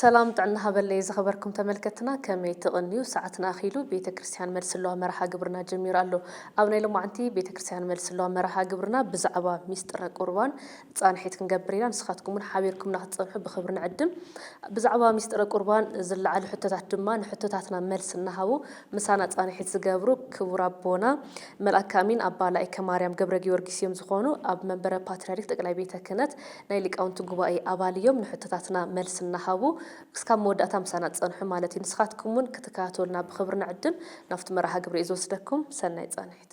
ሰላም ጥዕና ሃበለይ ዝኸበርኩም ተመልከትና ከመይ ትቕንዩ ሰዓትና ኣኺሉ ቤተ ክርስቲያን መልሲ ኣለዋ መርሃ ግብርና ጀሚሩ ኣሎ ኣብ ናይ ሎማዕንቲ ቤተ ክርስቲያን መልሲ ኣለዋ መርሃ ግብርና ብዛዕባ ሚስጥረ ቁርባን ፃንሒት ክንገብር ኢና ንስኻትኩም እውን ሓቢርኩምና ክትፀንሑ ብክብሪ ንዕድም ብዛዕባ ሚስጥረ ቁርባን ዝለዓሉ ሕቶታት ድማ ንሕቶታትና መልሲ እናሃቡ ምሳና ፃንሒት ዝገብሩ ክቡር ኣቦና መልኣከ ኣሚን ኣባ ላይከ ማርያም ገብረጊዮርጊስ እዮም ዝኾኑ ኣብ መንበረ ፓትርያርክ ጠቅላይ ቤተ ክህነት ናይ ሊቃውንቲ ጉባኤ ኣባል እዮም ንሕቶታትና መልሲ እናሃቡ ክስካብ መወዳእታ ምሳና ፀንሑ ማለት እዩ ንስኻትኩም እውን ክትከታተሉና ብኽብሪ ንዕድም ናብቲ መርሃ ግብሪ እዩ ዝወስደኩም ሰናይ ፃንሒት።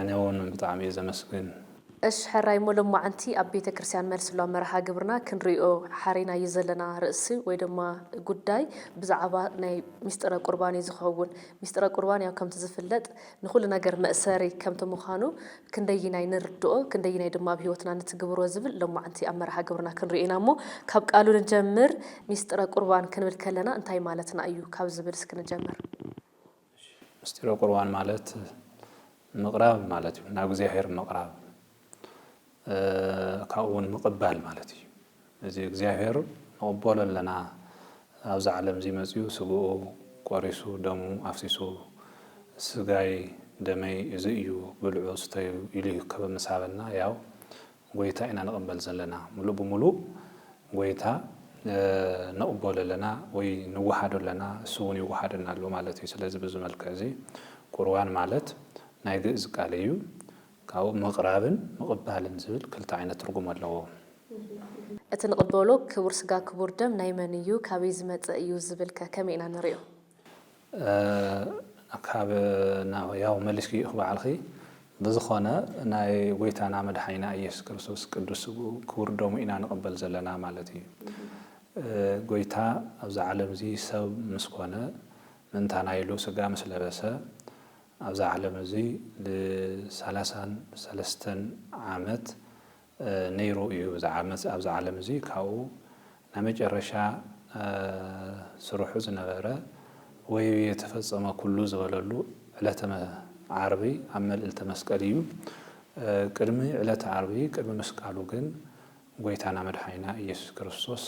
ኣነ ውን ብጣዕሚ እየ ዘመስግን። እሽ ሕራይ ሞ ሎማዓንቲ ኣብ ቤተ ክርስትያን መልስሎ መርሃ ግብርና ክንሪኦ ሓሪናዮ ዘለና ርእሲ ወይ ድማ ጉዳይ ብዛዓባ ናይ ሚስጥረ ቁርባን እዩ ዝከውን ሚስጥረ ቁርባን ያው ከምቲ ዝፍለጥ ንኩሉ ነገር መእሰሪ ከምቲ ምካኑ ክንደይናይ ንርድኦ ክንደይናይ ድማ ኣብ ሂወትና ንትግብሮ ዝብል ሎማዓንቲ ኣብ መርሃ ግብርና ክንሪኦ ኢና እሞ ካብ ቃሉ ንጀምር ሚስጥረ ቁርባን ክንብል ከለና እንታይ ማለትና እዩ ካብ ዝብል እስኪ ንጀምር ምስጢረ ቁርባን ማለት ምቕራብ ማለት እዩ፣ ናብ እግዚኣብሔር ምቕራብ ካብኡ እውን ምቕባል ማለት እዩ። እዚ እግዚኣብሔር ንቕበሎ ኣለና ኣብዚ ዓለም እዚ መፅኡ ስግኡ ቆሪሱ ደሙ ኣፍሲሱ ስጋይ ደመይ እዚ እዩ ብልዑ ስተዩ ኢሉ ከበምሳበና ያው ጎይታ ኢና ንቅበል ዘለና ምሉእ ብምሉእ ጎይታ ንቅበሎ ኣለና ወይ ንወሃዶ ኣለና እሱ እውን ይወሃደና ኣሎ ማለት እዩ ስለዚ ብዚ መልክዕ እዚ ቁርባን ማለት ናይ ግእዝ ቃል እዩ ካብኡ ምቅራብን ምቅባልን ዝብል ክልተ ዓይነት ትርጉም ኣለዎ። እቲ ንቅበሎ ክቡር ስጋ ክቡር ደም ናይ መን እዩ ካበይ ዝመፀ እዩ ዝብል ከ ከመይ ኢና ንሪኦ? ካብ ናብ ሕያው መሊስክዮ ኢኪ ባዕልኪ ብዝኮነ ናይ ጎይታና መድሓኒና ኢየሱስ ክርስቶስ ቅዱስ ስግኡ ክቡር ደሙ ኢና ንቅበል ዘለና ማለት እዩ ጎይታ ኣብዛ ዓለም እዚ ሰብ ምስ ኮነ ምእንታና ኢሉ ስጋ ምስ ለበሰ ኣብዛ ዓለም እዚ ን ሰላሳን ሰለስተን ዓመት ነይሩ እዩ እዚ ዓመጽ ኣብዚ ዓለም እዚ ካብኡ ናይ መጨረሻ ስርሑ ዝነበረ ወይብየ ተፈጸመ ኩሉ ዝበለሉ ዕለተ ዓርቢ ኣብ መልእልተ መስቀል እዩ ቅድሚ ዕለተ ዓርቢ ቅድሚ ምስቃሉ ግን ጎይታና መድሓኒና ኢየሱስ ክርስቶስ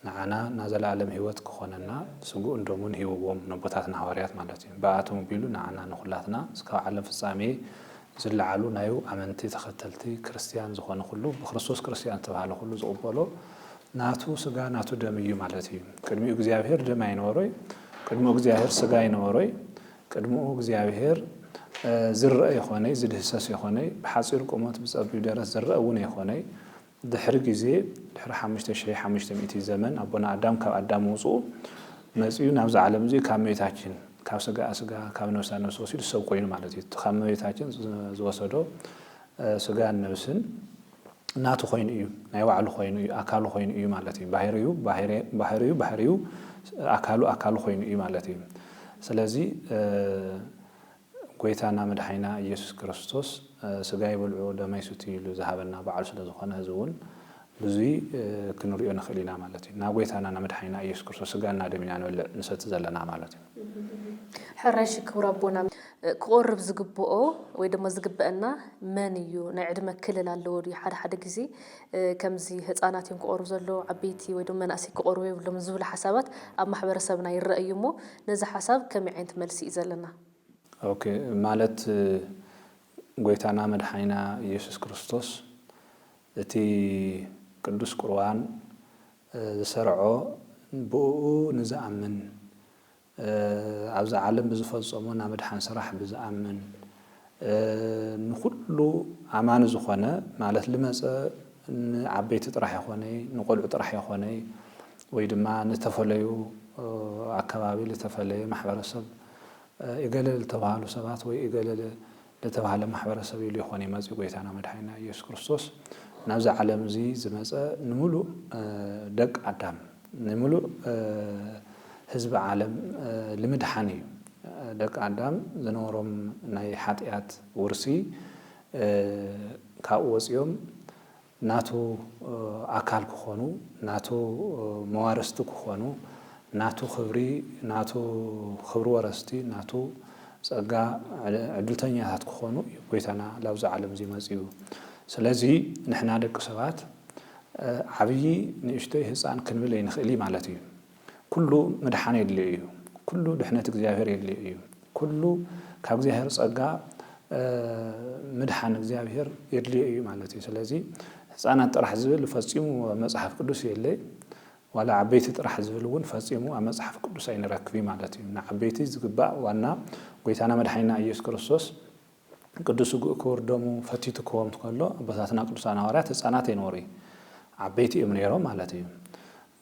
ንዓና ናዘለኣለም ሕይወት ክኾነና ስግኡን ደሙን ሂብዎም ነቦታትና ሃዋርያት ማለት እዩ ብኣኣቶም ኣቢሉ ንዓና ንኹላትና እስካብ ዓለም ፍጻሜ ዝለዓሉ ናዩ ኣመንቲ ተኸተልቲ ክርስትያን ዝኾነ ኩሉ ብክርስቶስ ክርስትያን ዝተብሃለ ኩሉ ዝቕበሎ ናቱ ስጋ ናቱ ደም እዩ ማለት እዩ ቅድሚኡ እግዚኣብሔር ደም ኣይነበሮይ ቅድሙ እግዚኣብሔር ስጋ ኣይነበሮይ ቅድምኡ እግዚኣብሔር ዝረእ የኾነይ ዝድህሰስ የኾነይ ብሓጺር ቁመት ብጸቢብ ደረት ዝረእ እውን የኾነይ ድሕሪ ግዜ ድሕሪ ሓሙሽተ ሽሕ ሓሙሽተ ሚእቲ ዘመን ኣቦና ኣዳም ካብ ኣዳም ወጹኡ መጺኡ ናብዚ ዓለም እዚ ካብ መቤታችን ካብ ስጋኣ ስጋ ካብ ነብሳ ነብሲ ወሲዱ ሰብ ኮይኑ ማለት እዩ እቲ ካብ መቤታችን ዝወሰዶ ስጋን ነብስን ናቱ ኮይኑ እዩ ናይ ባዕሉ ኮይኑ እዩ ኣካሉ ኮይኑ እዩ ማለት እዩ ባህሪኡ ባህሪኡ ባህሪኡ ኣካሉ ኣካሉ ኮይኑ እዩ ማለት እዩ ስለዚ ጎይታና መድሓኒና እየሱስ ክርስቶስ ስጋይ ብልዑ ደመይ ስትዩ ኢሉ ዝሃበና ባዕሉ ስለ ዝኾነ እዚ ውን ብዙይ ክንሪኦ ንኽእል ኢና ማለት እዩ። ናጎይታና ናመድሓኒና እየሱስ ክርስቶስ ስጋን ናደም ኢና ንበልዕ ንሰቲ ዘለና ማለት እዩ። ሕራይ እሺ ክቡር ኣቦና ክቆርብ ዝግብኦ ወይ ደሞ ዝግበእና መን እዩ ናይ ዕድመ ክልል ኣለዎ ድዩ ሓደ ሓደ ግዜ ከምዚ ህጻናት እዮም ክቐርቡ ዘለዉ ዓበይቲ ወይ ድማ መናእሰይ ክቐርቡ የብሎምን ዝብሉ ሓሳባት ኣብ ማሕበረሰብና ይረኣ እዩ እሞ ነዚ ሓሳብ ከመይ ዓይነት መልሲ እዩ ዘለና? ኦኬ ማለት ጎይታና መድሓኒና ኢየሱስ ክርስቶስ እቲ ቅዱስ ቁርባን ዝሰርዖ ብእኡ ንዝኣምን ኣብዛ ዓለም ብዝፈጸሞ ናይ ምድሓን ስራሕ ብዝኣምን ንኹሉ ኣማኒ ዝኾነ ማለት ልመጸ ንዓበይቲ ጥራሕ የኾነይ ንቆልዑ ጥራሕ የኾነይ ወይ ድማ ንተፈለዩ ኣከባቢ ልተፈለየ ማሕበረሰብ እገለ ልተባህሉ ሰባት ወይ እገለ ለተባህለ ማሕበረሰብ ኢሉ ይኾን እዩ መጺኡ ጎይታና መድሓኒና ኢየሱስ ክርስቶስ ናብዚ ዓለም እዚ ዝመጸ ንምሉእ ደቅ ኣዳም ንምሉእ ህዝቢ ዓለም ልምድሓን እዩ ደቅ ኣዳም ዝነበሮም ናይ ሓጥያት ውርሲ ካብኡ ወጺኦም ናቱ ኣካል ክኾኑ፣ ናቱ መዋርስቲ ክኾኑ፣ ናቱ ክብሪ፣ ናቱ ክብሪ ወረስቲ፣ ናቱ ጸጋ ዕድልተኛታት ክኾኑ እዩ ጎይታና ላብዚ ዓለምዚ መጺኡ። ስለዚ ንሕና ደቂ ሰባት ዓብዪ ንእሽቶይ ህጻን ክንብል ኣይንኽእሊ ማለት እዩ። ኩሉ ምድሓን የድልዮ እዩ። ኩሉ ድሕነት እግዚኣብሔር የድልዮ እዩ። ኩሉ ካብ እግዚኣብሔር ጸጋ ምድሓን እግዚኣብሔር የድልዮ እዩ ማለት እዩ። ስለዚ ህፃናት ጥራሕ ዝብል ፈፂሙ ኣብ መፅሓፍ ቅዱስ የለይ ዋላ ዓበይቲ ጥራሕ ዝብል እውን ፈፂሙ ኣብ መፅሓፍ ቅዱስ ኣይንረክብ ማለት እዩ ንዓበይቲ ዝግባእ ዋና ጎይታና መድሓኒና ኢየሱስ ክርስቶስ ቅዱስ ስጉእ ክቡር ደሙ ፈቲቱ ክወም ከሎ ኣቦታትና ቅዱሳን ሃዋርያት ህፃናት ኣይነበሩ ዓበይቲ እዮም ነይሮም ማለት እዩ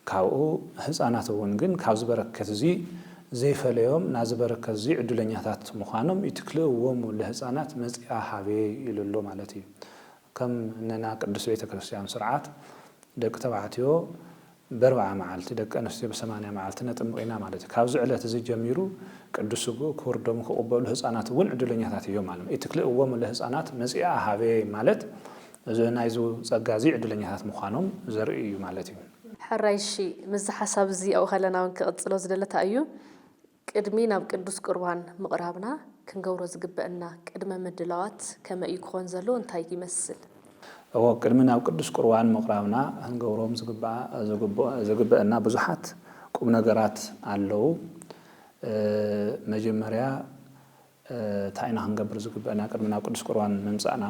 ካብኡ ህጻናት እውን ግን ካብዚ በረከት እዚ ዘይፈለዮም ናዚ በረከት እዚ ዕድለኛታት ምዃኖም ይትክልእዎሙ ለህጻናት መጺኣ ሃቤ ኢሉሉ ማለት እዩ ከም ነና ቅድስት ቤተ ክርስቲያን ስርዓት ደቂ ተባዕትዮ በርብዓ መዓልቲ ደቂ ኣንስትዮ ብሰማንያ መዓልቲ ነጥምቅ ኢና ማለት እዩ ካብዚ ዕለት እዚ ጀሚሩ ቅዱስ ስግኡ ክቡር ደሙ ክቅበሉ ህጻናት እውን ዕድለኛታት እዮም ማለት እዩ ይትክልእዎሙ ለህጻናት መጺኣ ሃቤ ማለት እዚ ናይዚ ጸጋ እዚ ዕድለኛታት ምዃኖም ዘርኢ እዩ ማለት እዩ። ሕራይ እሺ ምስዚ ሓሳብ እዚ ኣብኡ ከለና ውን ክቅጽሎ ዝደለ ታይ እዩ ቅድሚ ናብ ቅዱስ ቁርባን ምቅራብና ክንገብሮ ዝግበእና ቅድመ ምድላዋት ከመይ እዩ ክኮን ዘለዎ እንታይ ይመስል። እወ ቅድሚ ናብ ቅዱስ ቁርባን ምቅራብና ክንገብሮም ዝግባኣ ዝግበእና ብዙሓት ቁምነገራት ኣለው መጀመርያ ታይ ኢና ክንገብር ዝግበእና ቅድሚ ናብ ቅዱስ ቁርባን ምምጻእና?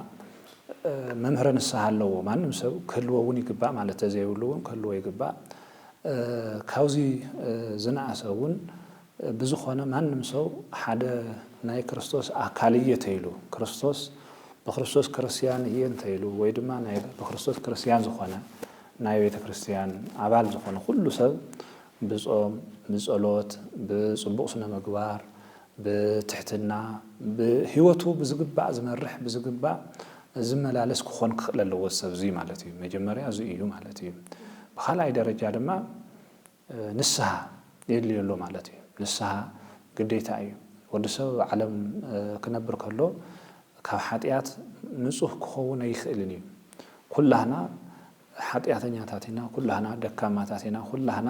መምህረ ንስሃ ኣለዎ ማንም ሰብ ክህልዎ እውን ይግባእ ማለት ተዘይብሉ እውን ክህልዎ ይግባእ። ካብዚ ዝነኣሰ እውን ብዝኾነ ማንም ሰው ሓደ ናይ ክርስቶስ ኣካል እየ ተይሉ ክርስቶስ ብክርስቶስ ክርስቲያን እየ እንተይሉ ወይ ድማ ናይ ብክርስቶስ ክርስቲያን ዝኾነ ናይ ቤተ ክርስቲያን ኣባል ዝኾነ ኩሉ ሰብ ብጾም ብጸሎት ብጽቡቕ ስነ ምግባር ብትሕትና ብህይወቱ ብዝግባእ ዝመርሕ ብዝግባእ ዝመላለስ ክኾን ክኽእል ኣለዎ እዚ ሰብ እዙይ ማለት እዩ። መጀመርያ እዙይ እዩ ማለት እዩ። ብኻልኣይ ደረጃ ድማ ንስሃ የድልዮ ኣሎ ማለት እዩ። ንስሃ ግዴታ እዩ። ወዲ ሰብ ኣብ ዓለም ክነብር ከሎ ካብ ሓጢኣት ንፁህ ክኸውን ኣይኽእልን እዩ። ኩላህና ሓጥያተኛታት ኢና ኩላህና ደካማታት ኢና ኩላህና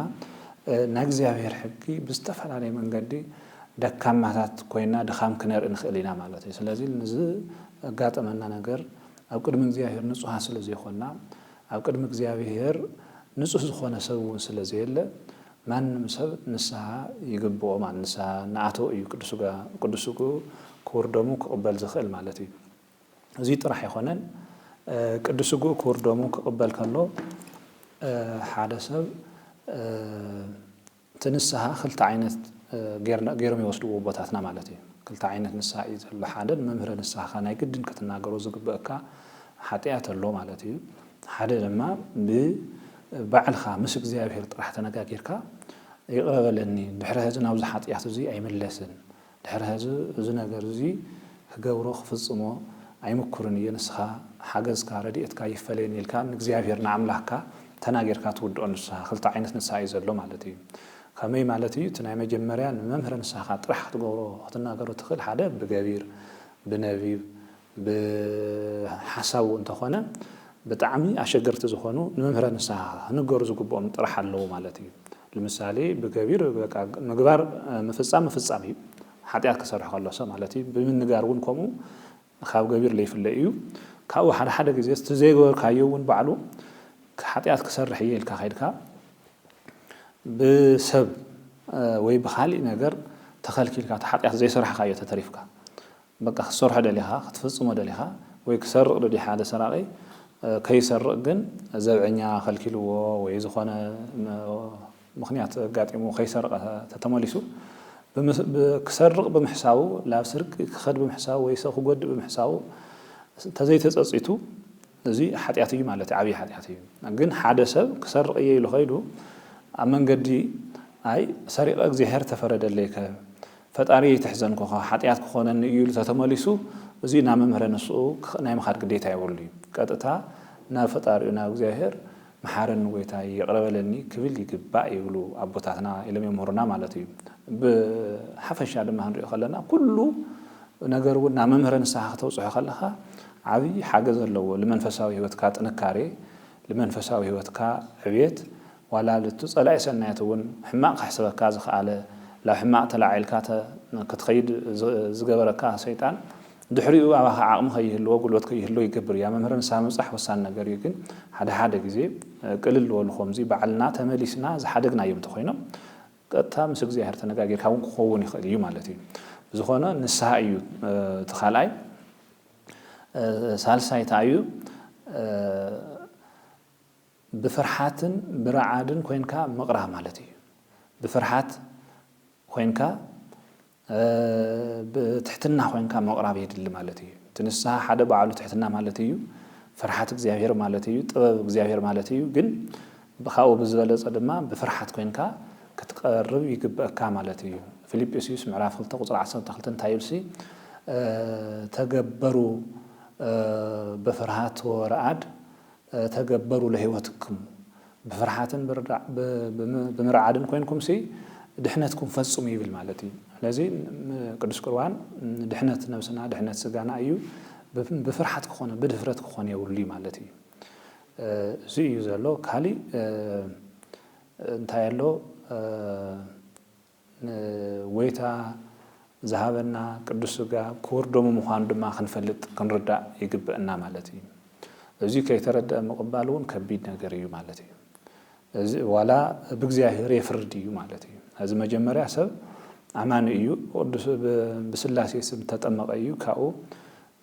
ናይ እግዚኣብሔር ሕጊ ብዝተፈላለየ መንገዲ ደካማታት ኮይና ድኻም ክነርኢ ንኽእል ኢና ማለት እዩ ስለዚ ንዝጋጠመና ነገር ኣብ ቅድሚ እግዚኣብሔር ንጹሃን ስለ ዘይኮና ኣብ ቅድሚ እግዚኣብሔር ንጹህ ዝኾነ ሰብ እውን ስለ ዘየለ ማንም ሰብ ንስሃ ይግብኦ ማለት ንስሃ እናኣተወ እዩ ቅዱስ ስግኡ ክቡር ደሙ ክቕበል ዝኽእል ማለት እዩ። እዙይ ጥራሕ ኣይኮነን፣ ቅዱስ ስግኡ ክቡር ደሙ ክቕበል ከሎ ሓደ ሰብ እቲ ንስሃ ክልተ ዓይነት ገይሮም ይወስድዎ ኣቦታትና ማለት እዩ። ክልተ ዓይነት ንስሃ እዩ ዘሎ። ሓደ ንመምህረ ንስሃኻ ናይ ግድን ክትናገሮ ዝግበእካ ሓጢኣት ኣሎ ማለት እዩ። ሓደ ድማ ብባዕልኻ ምስ እግዚኣብሔር ጥራሕ ተነጋጊርካ ይቕረ በለኒ ድሕሪ ሕዚ ናብዚ ሓጢኣት እዙይ ኣይምለስን ድሕሪ ሐዚ እዚ ነገር እዚ ክገብሮ ክፍጽሞ ኣይምኩርን እየ ንስኻ ሓገዝካ ረድኤትካ ይፈለየኒ ኢልካ ንእግዚኣብሔር ንኣምላክካ ተናጊርካ ትውድኦ ንስሃ ክልተ ዓይነት ንስሃ እዩ ዘሎ ማለት እዩ ከመይ ማለት እዩ እቲ ናይ መጀመርያ ንመምህረ ንስሃኻ ጥራሕ ክትገብሮ ክትናገሮ ትኽእል ሓደ ብገቢር ብነቢብ ብሓሳቡ እንተኾነ ብጣዕሚ ኣሸገርቲ ዝኾኑ ንመምህረ ንስሃ ክንገሩ ዝግብኦም ጥራሕ ኣለዉ ማለት እዩ። ልምሳሌ ብገቢር በቃ ምግባር ምፍጻም ምፍጻም እዩ ሓጢኣት ክሰርሕ ከሎ ሰብ ማለት እዩ ብምንጋር እውን ከምኡ ካብ ገቢር ለይፍለ እዩ ካብኡ ሓደ ሓደ ግዜ እቲ ዘይገበርካዮ እውን ባዕሉ ሓጢኣት ክሰርሕ እየ ኢልካ ከይድካ ብሰብ ወይ ብካሊእ ነገር ተኸልኪልካ እቲ ሓጢኣት ዘይሰራሕካዮ ተተሪፍካ በቃ ክትሰርሖ ደሊኻ ክትፍጽሞ ደሊኻ ወይ ክሰርቕ ደልዩ ሓደ ሰራቒ ከይሰርቕ ግን ዘብዐኛ ከልኪልዎ ወይ ዝኾነ ምኽንያት ኣጋጢሙ ከይሰርቐ ተተመሊሱ ክሰርቕ ብምሕሳቡ ላብ ስርቂ ክኸድ ብምሕሳቡ ወይ ሰብ ክጎድእ ብምሕሳቡ ተዘይተጸጺቱ እዚ ሓጢኣት እዩ ማለት እዩ፣ ዓብዪ ሓጢኣት እዩ። ግን ሓደ ሰብ ክሰርቕ እየ ኢሉ ከይዱ ኣብ መንገዲ ኣይ ሰሪቐ እግዚኣብሄር ተፈረደለይከ ፈጣሪየይ ተሕዘንኩኻ ሓጢኣት ክኾነኒ እዩ ኢሉ ተተመሊሱ እዚ ናብ መምህረ ንስኡ ናይ ምኻድ ግዴታ የብሉ እዩ። ቀጥታ ናብ ፈጣሪኡ ናብ እግዚኣብሄር መሓረኒ ጎይታይ ይቅረ በለኒ ክብል ይግባእ ይብሉ ኣቦታትና ኢሎም የምህሩና ማለት እዩ። ብሓፈሻ ድማ ክንሪኦ ከለና ኩሉ ነገር እውን ናብ መምህረ ንስሓ ክተብጽሖ ከለኻ ዓብይ ሓገዝ ኣለዎ ልመንፈሳዊ ህይወትካ ጥንካሬ ልመንፈሳዊ ህይወትካ ዕብየት ዋላ ልቲ ጸላኢ ሰናየት እውን ሕማቅ ከሕስበካ ዝኸኣለ ላብ ሕማቅ ተላዒልካ ክትኸይድ ዝገበረካ ሰይጣን ድሕሪኡ ኣባኻ ዓቕሚ ከይህልዎ ጉልበት ከይህልዎ ይገብር እዩ። ኣብ መምህረ ንስሃ ምብጻሕ ወሳኒ ነገር እዩ ግን ሓደ ሓደ ግዜ ቅልል በሉ ከምዚ ባዕልና ተመሊስና ዝሓደግናዮም እንተኾይኖም ቀጥታ ምስ እግዚኣብሔር ተነጋጊርካ እውን ክኸውን ይኽእል እዩ ማለት እዩ። ብዝኾነ ንስሃ እዩ እቲ ካልኣይ ሳልሳይ ታይ እዩ ብፍርሓትን ብራዓድን ኮይንካ ምቕራ ማለት እዩ። ብፍርሓት ኮይንካ ብትሕትና ኮይንካ ምቕራብ የድሊ ማለት እዩ። እቲ ንስሃ ሓደ ባዕሉ ትሕትና ማለት እዩ። ፍርሓት እግዚኣብሔር ማለት እዩ። ጥበብ እግዚኣብሔር ማለት እዩ። ግን ካብኡ ብዝበለጸ ድማ ብፍርሓት ኮይንካ ክትቀርብ ይግበእካ ማለት እዩ። ፊልጵስዩስ ምዕራፍ ክልተ ቁጽሪ ዓሰርተ ክልተ እንታይ ይብልሲ ተገበሩ በፍርሃት ወረኣድ ተገበሩ ለሕይወትክሙ ብፍርሓትን ብርዳዕ ብምርዓድን ኮይንኩምሲ ድሕነትኩም ፈጽሙ ይብል ማለት እዩ ስለዚ ቅዱስ ቁርባን ድሕነት ነብስና ድሕነት ስጋና እዩ ብፍርሓት ክኾነ ብድፍረት ክኾነ የብሉይ ማለት እዩ እዚ እዩ ዘሎ ካሊእ እንታይ ኣሎ ንጐይታ ዝሃበና ቅዱስ ሥጋ ክቡር ደሙ ምዃኑ ድማ ክንፈልጥ ክንርዳእ ይግበእና ማለት እዩ። እዙይ ከይተረድኣ ምቕባል እውን ከቢድ ነገር እዩ ማለት እዩ። እዚ ዋላ ብእግዚኣብሔር የፍርድ እዩ ማለት እዩ። እዚ መጀመርያ ሰብ ኣማኒ እዩ ብቅዱስ ብሥላሴ ስም ተጠመቐ እዩ ካብኡ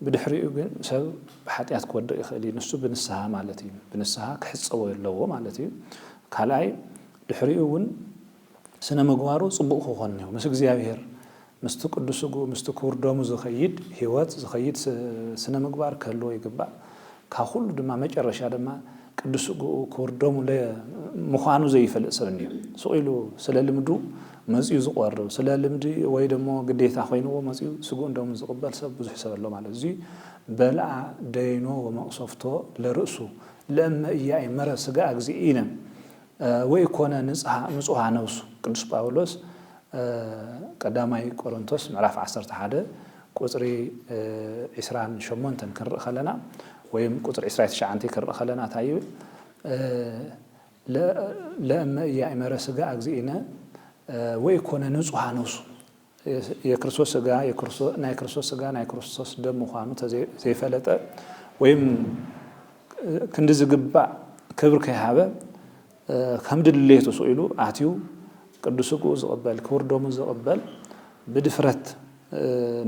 ብድሕሪኡ ግን ሰብ ብኃጢኣት ክወድቕ ይኽእል እዩ ንሱ ብንስሓ ማለት እዩ ብንስሓ ክሕጸቦ ኣለዎ ማለት እዩ። ካልኣይ ድሕሪኡ እውን ስነ ምግባሩ ጽቡቅ ክኮን ኒዎ ምስ እግዚኣብሄር ምስቲ ቅዱስ ስግኡ ምስቲ ክቡር ደሙ ዝከይድ ሂወት ዝከይድ ስነ ምግባር ክህልዎ ይግባእ ካብ ኩሉ ድማ መጨረሻ ድማ ቅዱስ ስግኡ ክቡር ደሙ ምኳኑ ዘይፈልጥ ሰብ ኒዮ ስቅ ኢሉ ስለ ልምዱ መጽዩ ዝቆርብ ስለ ልምዲ ወይ ደሞ ግዴታ ኮይንዎ መጽዩ ስግኡን ደሙን ዝቅበል ሰብ ብዙሕ ሰብ ኣሎ ማለት እዚ በልዓ ደይኖ ወመቅሰፍቶ ለርእሱ ለእመ ኢያእመረ ስግኣ እግዚእነ ወኢኮነ ንጽሃ ንጹሃ ነብሱ ቅዱስ ጳውሎስ ቀዳማይ ቆሮንቶስ ምዕራፍ ዓሰርተ ሓደ ቁጽሪ ዕስራን ሸሞንተን ክንርኢ ከለና ወይም ቁጽሪ ዕስራይ ትሽዓንተይ ክንርኢ ከለና እንታይ ይብል ለእመ ኢያእመረ ሥጋ እግዚእነ ወኢኮነ ንጹሃ ነብሱ የክርስቶስ ስጋ ናይ ክርስቶስ ስጋ ናይ ክርስቶስ ደም ምዃኑ ዘይፈለጠ ወይም ክንዲ ዝግባእ ክብሪ ከይሃበ ከም ድሌቱ ስኢሉ ኣትዩ ቅዱስ ስግኡ ዝቕበል ክቡር ደሙ ዝቕበል ብድፍረት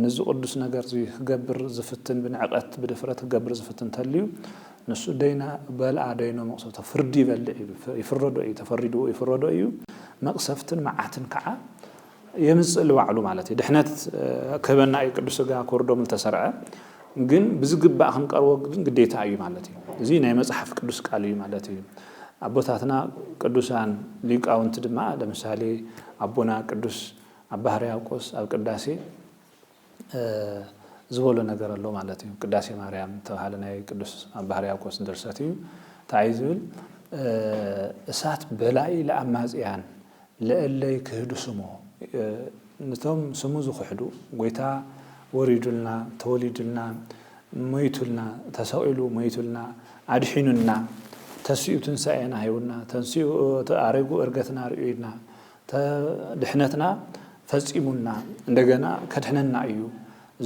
ንዚ ቅዱስ ነገር እዚ ክገብር ዝፍትን ብንዕቀት ብድፍረት ክገብር ዝፍትን ተልዩ ንሱ ደይና በልኣ ደይኖ መቕሰፍቶ ፍርዲ ይበልዕ እዩ ይፍረዶ እዩ ተፈሪድዎ ይፍረዶ እዩ መቕሰፍትን መዓትን ከዓ የምጽእ ልባዕሉ ማለት እዩ ድሕነት ክህበና እዩ ቅዱስ ስጋ ክወርዶም ልተሰርዐ ግን ብዝግባእ ክንቀርቦ ግን ግዴታ እዩ ማለት እዩ እዚ ናይ መጽሓፍ ቅዱስ ቃል እዩ ማለት እዩ ኣቦታትና ቅዱሳን ሊቃውንቲ ድማ ለምሳሌ ኣቦና ቅዱስ ኣባ ሕርያቆስ ኣብ ቅዳሴ ዝበሎ ነገር ኣሎ ማለት እዩ። ቅዳሴ ማርያም እተብሃለ ናይ ቅዱስ ኣባ ሕርያቆስ ድርሰት እዩ። እንታይ እዩ ዝብል? እሳት በላኢ ለኣማጽያን ለእለ ይክህዱ ስሞ ንቶም ስሙ ዝኽሕዱ ጎይታ ወሪዱልና፣ ተወሊዱልና፣ ሞይቱልና፣ ተሰቒሉ ሞይቱልና፣ ኣድሒኑና፣ ተሲኡ ትንሳኤና ሂቡና፣ ተንሲኡ ኣሪጉ እርገትና ኣርእዩና፣ ድሕነትና ፈጺሙና እንደገና ከድሕነና እዩ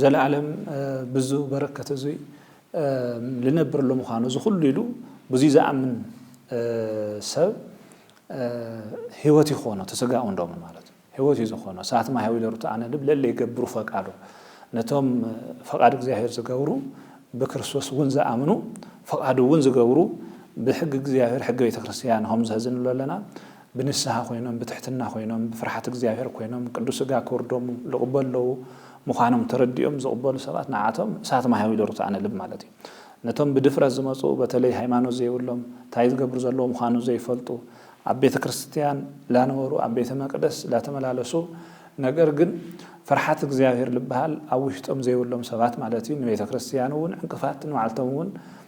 ዘለኣለም ብዙ በረከት እዙይ ልነብር ለምዃኑ እዚ ኩሉ ኢሉ ብዙይ ዝኣምን ሰብ ህይወት ይኾኖ ተስጋኡ እንዶምን ማለት ህይወት እዩ ዝኾኖ ሰዓት ማህያዊ ለሩት ኣነ ልብ ለለ ይገብሩ ፈቃዶ ነቶም ፈቃድ እግዚኣብሔር ዝገብሩ ብክርስቶስ እውን ዝኣምኑ ፈቃዱ እውን ዝገብሩ ብሕጊ እግዚኣብሔር ሕጊ ቤተ ክርስቲያን ሆም ዘህዝንሎ ኣለና ብንስሃ ኮይኖም ብትሕትና ኮይኖም ብፍርሓት እግዚኣብሔር ኮይኖም ቅዱስ ሥጋ ክውርዶም ልቕበለዉ ምዃኖም ተረዲኦም ዝቕበሉ ሰባት ንዓኣቶም እሳት ማሕያዊ ዶር ትኣነልብ ማለት እዩ። ነቶም ብድፍረት ዝመጹ በተለይ ሃይማኖት ዘይብሎም ታይ ዝገብሩ ዘለዉ ምዃኑ ዘይፈልጡ ኣብ ቤተ ክርስትያን ላነበሩ ኣብ ቤተ መቅደስ ላተመላለሱ ነገር ግን ፍርሓት እግዚኣብሔር ልብሃል ኣብ ውሽጦም ዘይብሎም ሰባት ማለት እዩ ንቤተ ክርስትያን እውን ዕንቅፋት ንባዕልቶም እውን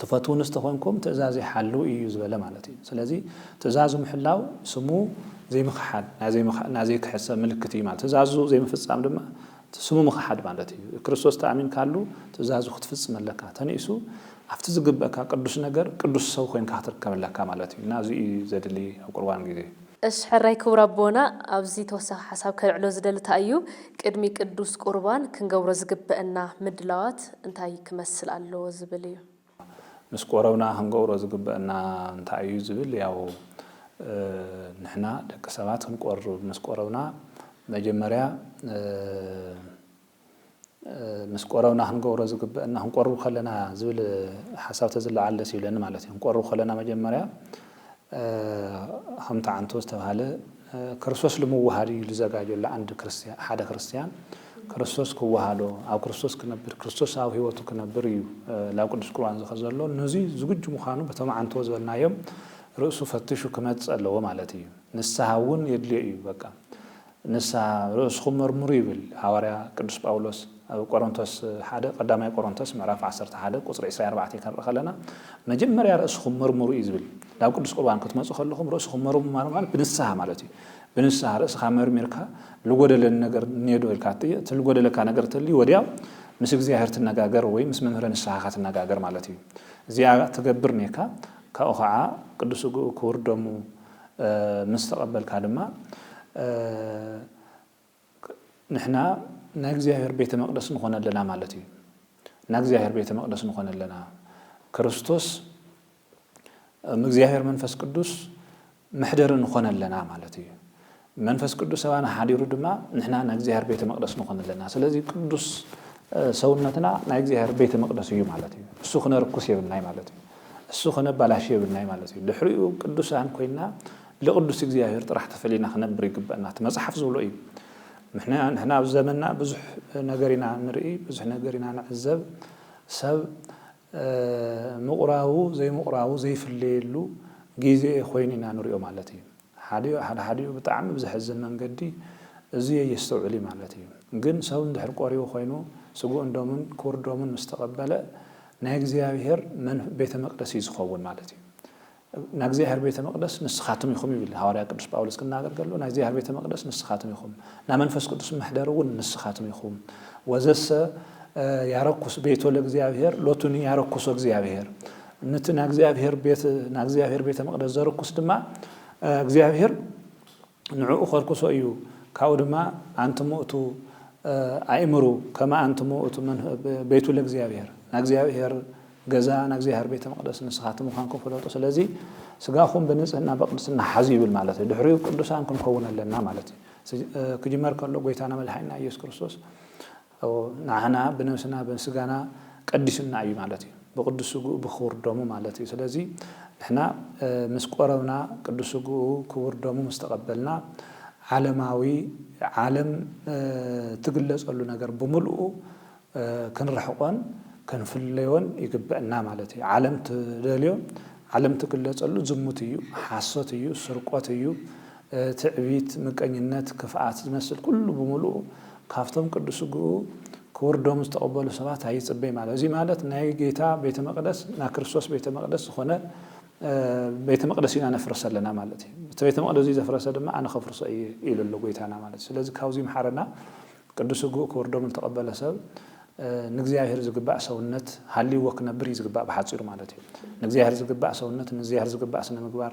ትፈትዉንስ ተኾንኩም ትእዛዘይ ሓልዉ እዩ ዝበለ ማለት እዩ። ስለዚ ትእዛዙ ምሕላው ስሙ ዘይምኽሓድ፣ ናይ ዘይክሕድ ሰብ ምልክት እዩ ማለት እዩ። ትእዛዙ ዘይምፍጻም ድማ ስሙ ምኽሓድ ማለት እዩ። ክርስቶስ ተኣሚንካሉ ትእዛዙ ክትፍጽም ኣለካ። ተንኢሱ ኣብቲ ዝግበእካ ቅዱስ ነገር ቅዱስ ሰብ ኮይንካ ክትርከብ ኣለካ ማለት እዩ እና እዚ እዩ ዘድሊ ኣብ ቁርባን ግዜ። እሽ ሕራይ ክቡር ኣቦና ኣብዚ ተወሳኺ ሓሳብ ከልዕሎ ዝደሊ ታይ እዩ ቅድሚ ቅዱስ ቁርባን ክንገብሮ ዝግበእና ምድላዋት እንታይ ክመስል ኣለዎ ዝብል እዩ። ምስ ቆረብና ክንገብሮ ዝግበእና እንታይ እዩ ዝብል ያው ንሕና ደቂ ሰባት ክንቆርብ ምስ ቆረብና መጀመርያ፣ ምስ ቆረብና ክንገብሮ ዝግበእና ክንቆርብ ከለና ዝብል ሓሳብ ተዝለዓል ደስ ይብለኒ ማለት እዩ። ክንቆርብ ከለና መጀመርያ ከምቲ ዓንቶ ዝተባህለ ክርስቶስ ልምውሃድ እዩ ልዘጋጆ ለኣንድ ክርስትያን ሓደ ክርስትያን ክርስቶስ ክወሃዶ ኣብ ክርስቶስ ክነብር ክርስቶስ ኣብ ህይወቱ ክነብር እዩ ላብ ቅዱስ ቁርባን ዝኸ ዘሎ ነዚ ዝግጁ ምዃኑ በቶም ዓንቶ ዝበልናዮም ርእሱ ፈትሹ ክመጽእ ኣለዎ ማለት እዩ። ንስሓ እውን የድልዮ እዩ በቃ ንስሓ ርእስኹም መርምሩ ይብል ሃዋርያ ቅዱስ ጳውሎስ ኣብ ቆሮንቶስ ሓደ ቀዳማይ ቆሮንቶስ ምዕራፍ ዓሰርተ ሓደ ቁጽሪ ዕስራን ኣርባዕተን ከንርኢ ከለና መጀመርያ ርእስኹም መርምሩ እዩ ዝብል ናብ ቅዱስ ቁርባን ክትመጹ ከለኹም ርእስኹም መርምሩ ማለት ብንስሓ ማለት እዩ ብንስሓ ርእስኻ መርሚርካ ልጎደለኒ ነገር እኔዶ ኢልካ እቲ ልጎደለካ ነገር ተልዩ ወዲያ ምስ እግዚኣብሔር ትነጋገር ወይ ምስ መምህረ ንስሓኻ ትነጋገር ማለት እዩ እዚኣ ትገብር ኔካ ካብኡ ከዓ ቅዱስ ስግኡ ክቡር ደሙ ምስ ተቐበልካ ድማ ንሕና ናይ እግዚኣብሔር ቤተ መቕደስ ንኾነ ኣለና ማለት እዩ። ናይ እግዚኣብሔር ቤተ መቕደስ ንኾነ ኣለና ክርስቶስ እግዚኣብሔር መንፈስ ቅዱስ መሕደሪ ንኾነ ኣለና ማለት እዩ። መንፈስ ቅዱስ ኣባና ሓዲሩ ድማ ንሕና ናይ እግዚኣብሔር ቤተ መቅደስ ንኾን ኣለና። ስለዚ ቅዱስ ሰውነትና ናይ እግዚኣብሔር ቤተ መቅደስ እዩ ማለት እዩ። እሱ ክነርኩስ የብልናይ ማለት እዩ። እሱ ክነባላሽ የብልናይ ማለት እዩ። ድሕሪኡ ቅዱሳን ኮይና ልቅዱስ እግዚኣብሔር ጥራሕ ተፈሊና ክነብር ይግበእና። እቲ መጽሓፍ ዝብሎ እዩ። ንሕና ኣብ ዘመንና ብዙሕ ነገር ኢና ንርኢ፣ ብዙሕ ነገር ኢና ንዕዘብ። ሰብ ምቑራቡ ዘይምቑራቡ ዘይፍለየሉ ግዜ ኮይኑ ኢና ንሪኦ ማለት እዩ። ሓዲኡ ሓደ ሓዲኡ ብጣዕሚ ብዘሕዝን መንገዲ እዙይ ኣየስተውዕልዩ ማለት እዩ። ግን ሰው እንድሕር ቆሪቡ ኮይኑ ስግኡን ደሙን ክቡር ደሙን ምስ ተቀበለ ናይ እግዚኣብሔር ቤተ መቅደስ እዩ ዝኸውን ማለት እዩ። ናይ እግዚኣብሔር ቤተ መቅደስ ንስኻትም ኢኹም ይብል ሃዋርያ ቅዱስ ጳውሎስ ክናገር ከሎ ናይ እግዚኣብሔር ቤተ መቅደስ ንስኻትም ኢኹም ናይ መንፈስ ቅዱስ መሕደሪ እውን ንስኻትም ኢኹም ወዘሰ ያረኩስ ቤቶ ለእግዚኣብሔር ሎቱኒ ያረኩሶ እግዚኣብሔር ነቲ ናእግዚኣብሄር ቤት ናእግዚኣብሄር ቤተ መቕደስ ዘርኩስ ድማ እግዚኣብሄር ንዕኡ ኸርኩሶ እዩ ካብኡ ድማ ኣንቲ ምእቱ ኣይእምሩ ከመ ኣንቲ ምእቱ ቤቱ ለእግዚኣብሄር ናእግዚኣብሄር ገዛ ናእግዚኣብሄር ቤተ መቕደስ ንስኻትም ምዃንኩም ፍለጡ ስለዚ ስጋኹም ብንጽህና በቅድስና ሓዙ ይብል ማለት እዩ ድሕሪኡ ቅዱሳን ክንከውን ኣለና ማለት እዩ ክጅመር ከሎ ጎይታና መድሓኒና ኢየሱስ ክርስቶስ እው ንዓና ብነብስና ብስጋና ቀዲሱና እዩ ማለት እዩ ብቅዱስ ስግኡ ብክቡር ደሙ ማለት እዩ ስለዚ ንሕና ምስ ቆረብና ቅዱስ ስግኡ ክቡር ደሙ ምስ ተቀበልና ዓለማዊ ዓለም ትግለጸሉ ነገር ብምልኡ ክንርሕቆን ክንፍለዮን ይግበእና ማለት እዩ ዓለም ትደልዮ ዓለም ትግለጸሉ ዝሙት እዩ ሓሶት እዩ ስርቆት እዩ ትዕቢት፣ ምቀኝነት፣ ክፍኣት ዝመስል ኩሉ ብምሉኡ ካብቶም ቅዱስ ስግኡ ክቡር ደሙ ዝተቐበሉ ሰባት ኣይጽበይ ማለት እዚ ማለት ናይ ጌታ ቤተ መቅደስ ናይ ክርስቶስ ቤተ መቅደስ ዝኾነ ቤተ መቅደስ ኢና ነፍርስ ኣለና ማለት እዩ እቲ ቤተ መቅደስ እዚ ዘፍረሰ ድማ ኣነ ከፍርሶ እየ ኢሉ ኣሎ ጎይታና ማለት ስለዚ ካብዚ ምሓረና ቅዱስ ስግኡ ክቡር ደሙ ዝተቐበለ ሰብ ንእግዚኣብሔር ዝግባእ ሰውነት ሃልይዎ ክነብር እዩ ዝግባእ ብሓጺሩ ማለት እዩ ንእግዚኣብሔር ዝግባእ ሰውነት ንእግዚኣብሔር ዝግባእ ስነ ምግባር